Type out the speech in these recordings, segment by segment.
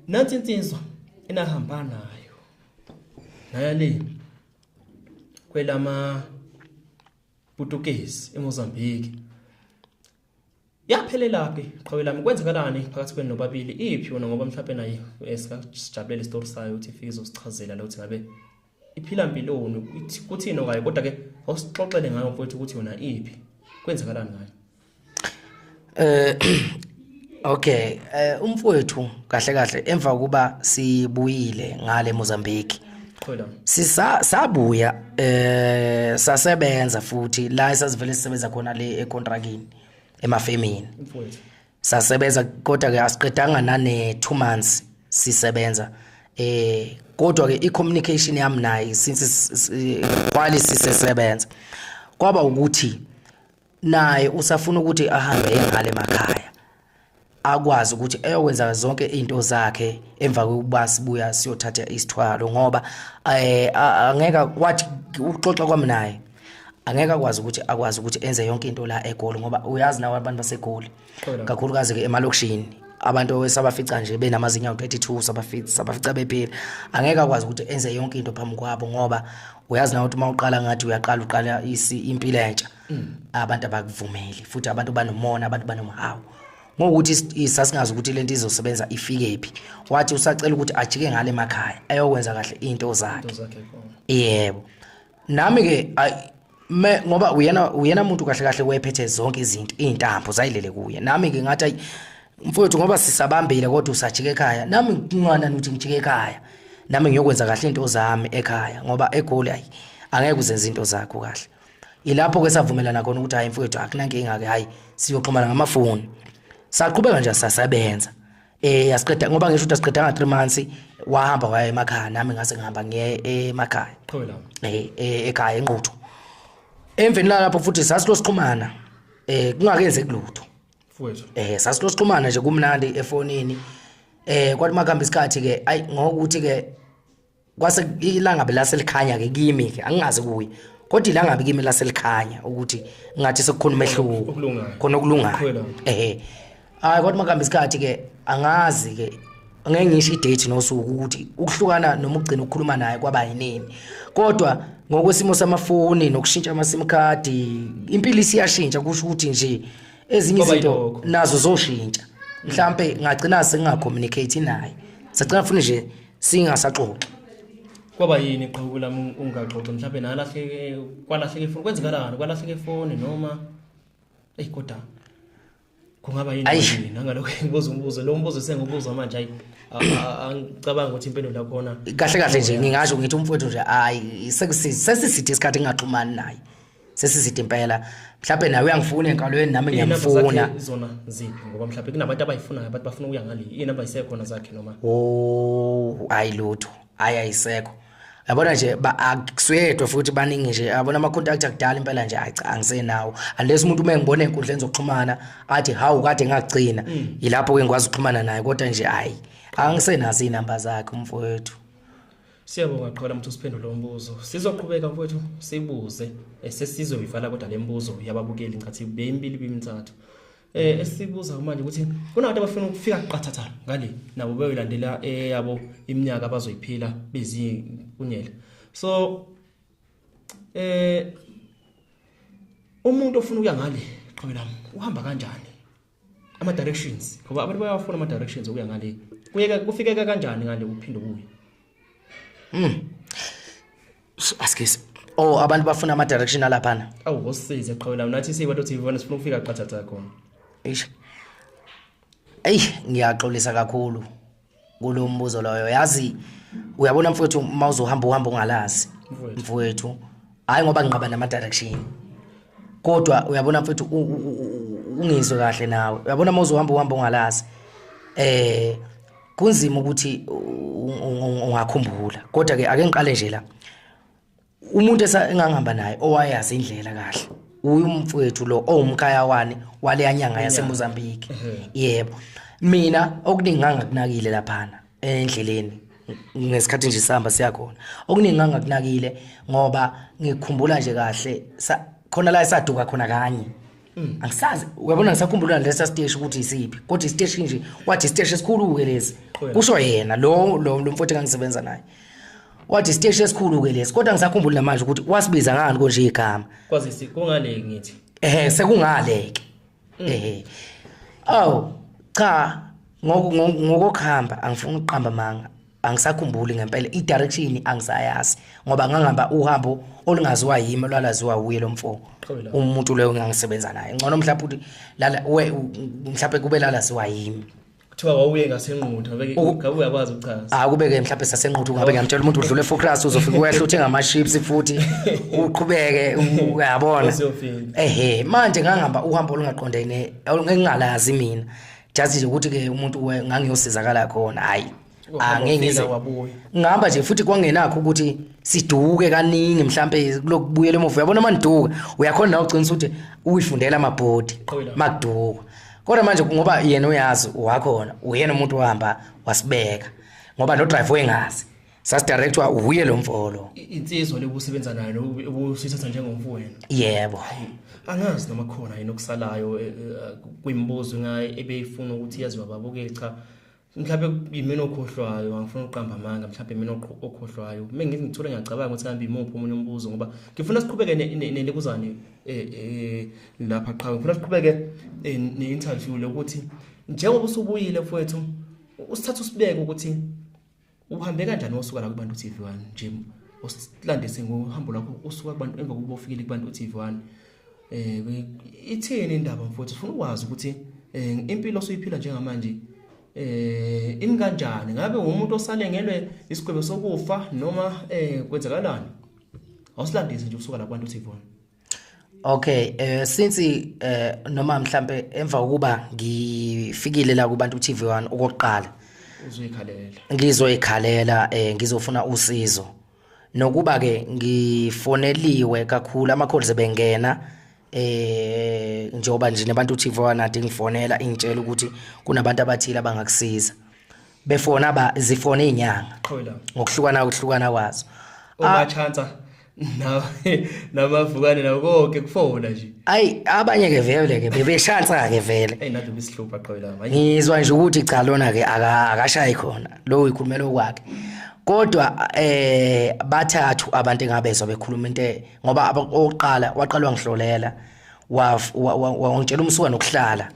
nansi insizwa enahamba nayo naya le kwelama Portuguese eMozambique yaphelela phi qhawe lami kwenzekalani phakathi kwenu nobabili iphi wona ngoba mhlawumbe naye eh, singajabulele isitori sayo ukuthi ifike izosichazela lo ukuthi ngabe iphila mpiloni kuthini okayo kodwa ke awusixoxele ngayo mfowethu ukuthi yona iphi kwenzakalani ngayo eh okay eh umfowethu kahle kahle emva kuba sibuyile ngale Mozambique Qhola. Sisa sabuya eh sasebenza futhi la esasivele sisebenza khona le econtrakini emafemini. Mfowethu. sasebenza kodwa ke asiqedanga nane 2 months sisebenza eh kodwa ke icommunication yami naye since kwali sisesebenza kwaba ukuthi naye usafuna ukuthi ahambe engale emakhaya akwazi ukuthi eyokwenza zonke izinto zakhe emva kokuba sibuya siyothatha isithwalo ngoba eh angeka wathi uxoxa kwami naye angeke akwazi ukuthi akwazi ukuthi enze yonke into la egoli ngoba uyazi nawo abantu basegoli kakhulukazi ke emalokishini abantu esabafica nje benamazinyo awu-32 sabafica sabafica bephila angeke akwazi ukuthi enze yonke into phambi kwabo ngoba uyazi nawo ukuthi uma uqala ngathi uyaqala uqala impilo entsha mm. abantu abakuvumeli futhi abantu banomona abantu banomhawu ngokuthi sasingazi ukuthi le nto izosebenza ifike phi wathi usacela ukuthi ajike ngale emakhaya ayokwenza kahle iy'nto zakhe yebo nami ke me ngoba uyena uyena umuntu kahle kahle wephethe zonke izinto izintambo zayilele kuye nami ke ngathi ayi mfowethu ngoba sisabambile kodwa usajike ekhaya nami ngincwana ukuthi ngijike ekhaya nami ngiyokwenza kahle into zami ekhaya ngoba egoli ayi angeke uzenze into zakho kahle ilapho ke savumelana khona ukuthi hayi mfowethu akunankinga ke hayi siyoxhumana ngamafoni saqhubeka nje sasebenza Eh yasiqeda ngoba ngisho ukuthi asiqedanga 3 months wahamba waya emakhaya nami ngase ngihamba ngiye emakhaya. Qho la. Eh, eh ekhaya enquthu. Emveni lapho futhi sasilosixhumana eh kungakenze kulutho. Mfowethu. Eh sasilosixhumana nje kumnandi efonini. Eh kwathi makuhamba isikhathi ke ay ngokuthi ke kwase ilangabe laselikhanya ke kimi ke angingazi kuye kodwa ilangabe kimi laselikhanya ukuthi ngathi sekukhona umehluko khona okulungayo ehe hayi kodwa makuhamba isikhathi ke angazi ke ngeke ngisho idate nosuku ukuthi ukuhlukana noma ugcina ukukhuluma naye kwaba yinini kodwa ngokwesimo samafoni nokushintsha amasim card impilo isiyashintsha kusho ukuthi nje ezinye izinto nazo zoshintsha mhlambe ngagcina singacommunicate naye sacela funa nje singasaxoxi kwaba yini qhubu lami ungaxoxi mhlawumbe nalahleke kwalahleke ifoni kwenzekalani kwalahleke ifoni noma eyi kodwa kungaba yini nangalokho engibuza umbuzo lo mbuzo sengibuzwa manje ayi angicabanga ukuthi impendulo yakhona kahle kahle nje ngingasho ngithi umfowethu nje hayi sesisithe isikhathi ngingaxhumani naye sesizide impela mhlawumbe nawe uyangifuna enkalweni nami ngiyamfuna zona ziphi ngoba mhlawumbe kunabantu abayifunayo abantu bafuna ukuya ngale inamba isekhona zakhe noma oh ayi lutho ayi ayisekho yabona nje akusuyedwa futhi baningi nje yabona ama-contact akudala impela nje ayi cha angisenawo unless umuntu uma engibona ey'nkundleni zokuxhumana athi hawu kade ngagcina mm. yilapho-ke ngikwazi ukuxhumana naye kodwa nje hhayi angisenazo iy'namba zakhe umfowethu Siyabonga qhola mthu siphendule umbuzo. Sizoqhubeka mfowethu sibuze eh, sesizoyivala kodwa lembuzo yababukeli ngathi beyimbili bimithathu. Eh mm. esibuza manje ukuthi kunabantu abafuna ukufika qathatha ngale nabo beyolandela eyabo eh, iminyaka abazoyiphila bezi kunyela. So eh umuntu ofuna ukuya ngale qhwelami uhamba kanjani? ama directions ngoba abantu bayawafuna ama directions okuya ngale kuyeka kufikeka kanjani ngale uphinde ubuye mm askisi oh abantu bafuna ama direction alaphana awu ngosize qhawela unathi siyibantu TV bona sifuna ukufika qathatha khona eish eyi ngiyaxolisa kakhulu kulo mbuzo loyo yazi uyabona mfowethu uma uzohamba uhambo ongalazi mfowethu hayi ngoba nginqaba nama direction kodwa uyabona mfowethu ungizwe kahle nawe uyabona uma uzohamba uhambo ongalazi eh kunzima ukuthi ungakhumbula kodwa ke ake ngiqale nje la umuntu esengangihamba naye owayazi indlela kahle uyu mfowethu lo owumkhaya wani waleya nyanga yaseMozambique yebo mina okuningi ngangakunakile laphana endleleni ngesikhathi nje sihamba siya khona okuningi ngangakunakile ngoba ngikhumbula nje kahle khona la esaduka khona kanye Mm. angisazi uyabona ngisakhumbula lesa siteshi ukuthi isiphi kodwa isiteshi nje wathi isiteshi esikhulu-ke lesi kusho yena lo lo lo mfowethu engangisebenza naye wathi isiteshi esikhulu-ke lesi kodwa ngisakhumbula namanje ukuthi wasibiza ngani konje igama kwazisi kungale ngithi ehe sekungale-ke Mm. ehe awu cha ngoku- ngoku- ngokokuhamba angifuni ukuqamba manga angisakhumbuli ngempela i-direction angisayazi ngoba ngangihamba uhambo olungaziwa yimi olwalaziwa wuye lo mfo umuntu loyo ngangisebenza naye ngcono mhlawumbe ukuthi lala we mhlawumbe kube lalaziwa yimi kuthiwa wawuye ngasenquthu ngabe uyakwazi ukuchaza ah kubeke mhlawumbe sasenquthu ngabe ngiyamtshela umuntu udlule focus uzofika wehla uthe ngama chips futhi uqhubeke uyabona ehe manje ngangihamba uhambo olungaqondene olungengalazi mina just nje ukuthi ke umuntu ngangiyosizakala khona hayi angeke ngize ngihamba nje futhi kwangenakho ukuthi siduke kaningi mhlambe kulokubuyela emuva uyabona manduka uyakhona nawe uqinisa ukuthi uyifundela amabhodi makuduka kodwa manje ngoba yena uyazi wakhona uyena umuntu ohamba wasibeka ngoba no drive wengazi sasidirectwa wuye lo mfolo insizwa lekusebenza nayo ubusithatha njengomfowenu yebo angazi noma khona yini okusalayo eh, eh, kwimibuzo ngaye ebeyifuna ukuthi yaziwa babukeli cha mhlawumbe yimina okhohlwayo angifuni ukuqamba amanga mhlawumbe mina okhohlwayo uma ngithi ngithole ngiyacabanga ukuthi kambe imuphi omunye umbuzo ngoba ngifuna siqhubeke nelibuzane um eh, eh, lapha qhawe ngifuna siqhubeke eh, ne-interview lokuthi njengoba usubuyile mfowethu usithatha usibeke ukuthi uhambe kanjani wasuka la kubantu TV one nje usilandise ngohambo lakho usuka kubantu emva kokuba ufikile kubantu TV one eh ithini indaba mfowethu ufuna ukwazi ukuthi eh, impilo osuyiphila njengamanje eh imi kanjani ngabe umuntu osalengelwe isigwebo sokufa noma eh kwenzakalani awusilandise nje usuka la kubantu TV one Okay eh since eh noma mhlambe emva kokuba ngifikile la kubantu TV1 okokuqala uzoyikhalela ngizoyikhalela eh ngizofuna usizo nokuba ke ngifoneliwe kakhulu ama calls ebengena eh njengoba nje nabantu TV1 ade ngifonela ingitshela ukuthi kunabantu abathile abangakusiza befona ba zifona inyanga ngokuhlukana ukuhlukana kwazo uma ah. chance nawe namavukane nawo konke kufona nje ayi abanye ke vele ke bebeshansa ke vele hey nathi bisihlupha qobe la manje ngizwa nje ukuthi cha lona ke aka akashayi khona lo uyikhulumela okwakhe kodwa eh bathathu abantu engabezwa bekhuluma into e, ngoba oqala waqalwa ngihlolela wangitshela umsuka nokuhlala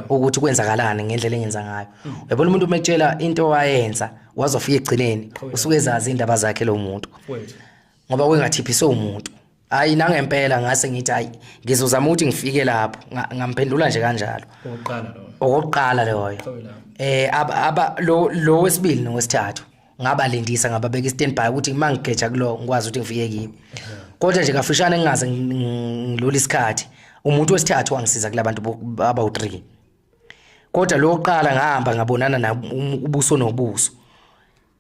ukuthi kwenzakalani ngendlela engenza ngayo hmm. uyabona umuntu umetshela into wayenza wazofika egcineni usuke ezazi indaba zakhe lo muntu ngoba kwengathiphiswe umuntu hayi nangempela ngase ngithi hayi ngizozama ukuthi ngifike lapho ngamphendula nje kanjalo okokuqala loyo okokuqala loyo eh aba lo lo wesibili nowesithathu ngabalindisa ngababeka i-standby ukuthi uma ngigeja kulo ngikwazi ukuthi ngifike kibo kodwa nje kafishane ngingaze ngilula isikhathi umuntu wesithathu wangisiza kulabantu abawu-3 kodwa lo oqala ngahamba ngabonana na ubuso nobuso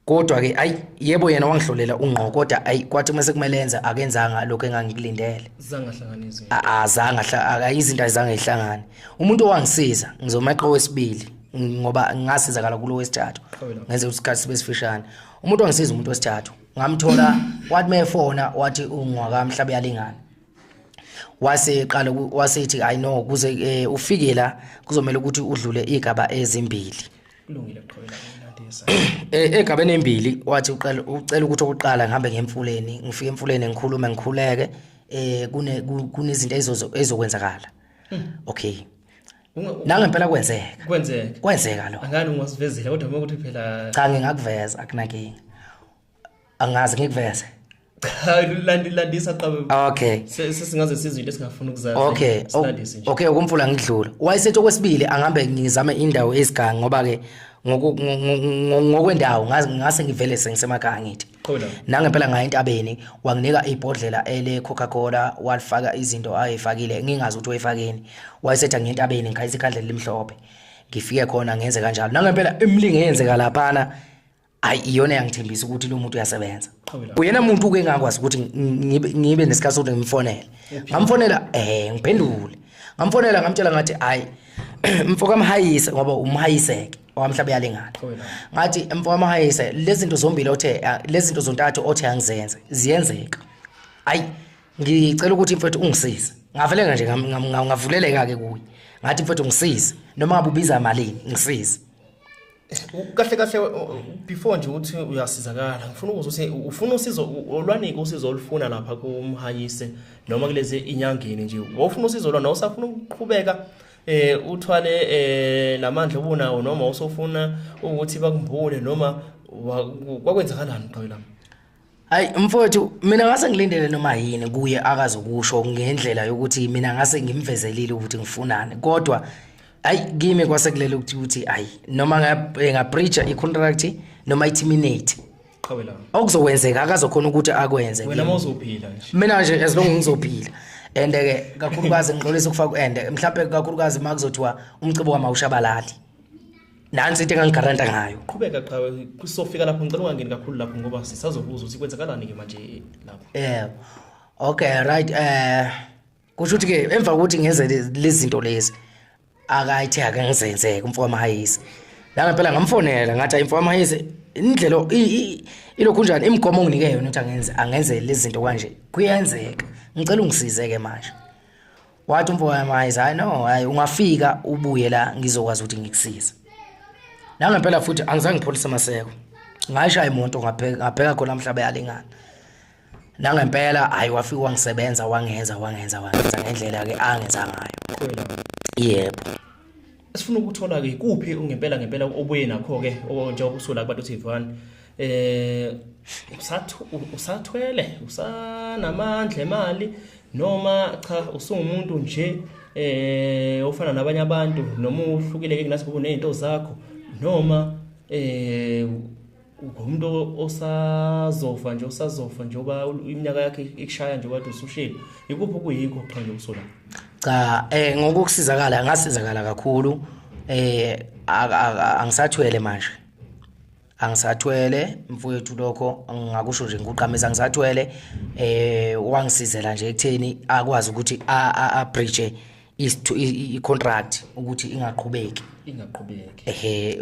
kodwa ke ayi yebo yena wangihlolela ungqo kodwa ayi kwathi uma sekumele enza akenzanga lokho engangikulindele zanga hlanganise azanga akayizinto azange ihlangane umuntu owangisiza ngizomeqa wesibili ngoba ngasizakala kulo wesithathu ngenze isikhathi sibe sifishane umuntu ongisiza umuntu wesithathu ngamthola wathi mefona wathi ungwaka mhlabe yalingana wase qala wasethi i know kuze eh, ufike la kuzomela ukuthi udlule igaba ezimbili kulungile qhubeka ulandisa eh egabeni embili wathi uqala ucela ukuthi okuqala ngihambe ngemfuleni ngifike emfuleni ngikhulume ngikhuleke eh kune kunezinto ezokwenzakala hmm. okay nangempela kwenzeka kwenzeka kwenzeka lo angani ungosivezile kodwa uma ukuthi phela cha ngingakuveza akunakinga angazi ngikuveze cha landi landisa qabe okay Se- sesingaze sizwe into esingafuni ukuzazi okay o- silandise nje okay ukumfula ngidlula wayesethi okwesibili angihambe ngizame indawo ezigangi ngoba ke ngoku- ngo- ngo- ngo- ngokwendawo ngazi- ngase ngivele sengisemakhaya ngithi Qho la. nangempela ngaye entabeni wanginika ibhodlela ele coca cola walifaka izinto ayefakile ngingazi ukuthi wayefakeni wayesetha ngentabeni ngikhayisa ikhandlela elimhlophe ngifike khona ngenze kanjalo nangempela imilingo eyenzeka laphana hayi iyona yangithembisa ukuthi lo muntu uyasebenza uyena muntu uke ngakwazi ukuthi ngibe nesikhathi sokuthi ngimfonele ngamfonela eh ngiphendule ngamfonela ngamtshela ngathi hayi mfoka mhayise ngoba umhayiseke wamhlaba yalengana ngathi mfoka mhayise lezi zinto zombili othe lezi zinto zontathu othe angizenze ziyenzeka hayi ngicela ukuthi mfethu ungisize ngaveleka nje ngavuleleka ke kuye ngathi mfethu ngisize noma ngabubiza malini ngisize kahle kahle before nje ukuthi uyasizakala ngifuna ukuza ukuthi ufuna usizo olwanike usizo olufuna lapha kumhanyise noma kulezi inyangeni nje wofuna usizo lona usafuna ukuqhubeka eh uthwale eh lamandla obunawo noma usofuna ukuthi bakumbule noma kwakwenzakalani qhawe lami Hayi mfowethu mina ngase ngilindele noma yini kuye akazokusho ngendlela yokuthi mina ngase ngimvezelile ukuthi ngifunani kodwa hayi kimi kwase kulele ukuthi ukuthi hayi noma ngabreacha eh, i-contract noma i-terminate qhawe lami okuzokwenzeka akazokhona ukuthi akwenze wena kimi. mawuzophila nje mina nje as long ngizophila and ke kakhulukazi ngixolisa ukufaka and mhlawumbe kakhulukazi uma kuzothiwa umcibo wamawushabalali nansi into engangigaranta ngayo qhubeka qhawe kusofika lapho ngicela ungangeni kakhulu lapho ngoba sisazobuza ukuthi kwenzakalani ke manje lapho yeah okay right eh kusho ukuthi ke emva kokuthi ngenze lezi zinto lezi akayithe ake ngizenze kumfoka mahayisi la ngempela ngamfonela ngathi ayimfoka mahayisi indlela ilokhu njani imigomo onginike yona ukuthi angenze angenze lezi zinto kanje kuyenzeka ngicela ungisize ke manje wathi umfo wami hayi hayi no hayi ungafika ubuye la ngizokwazi ukuthi ngikusize nangempela futhi angizange ngipholise maseko ngayishaya imoto ngabheka ngabheka khona mhlaba yalingana nangempela hayi wafika wangisebenza wangenza wangenza wangenza ngendlela ke angenza ngayo yebo Sifuna ukuthola ke kuphi ngempela ngempela obuye nakho ke njengoba usula kubantu TV1 eh usathwele usanamandla emali noma cha usungumuntu nje eh ofana nabanye abantu noma uhlukile ke kunasibukune izinto zakho noma eh umuntu osazofa nje osazofa njengoba iminyaka yakhe ikushaya nje kade usushile ikuphi okuyikho qha nje usola cha eh ngokusizakala ngasizakala kakhulu eh angisathwele manje angisathwele mfowethu lokho ngakusho nje ngikuqamisa angisathwele eh wangisizela nje ekutheni akwazi ukuthi a a bridge i contract ukuthi ingaqhubeki ingaqhubeki ehe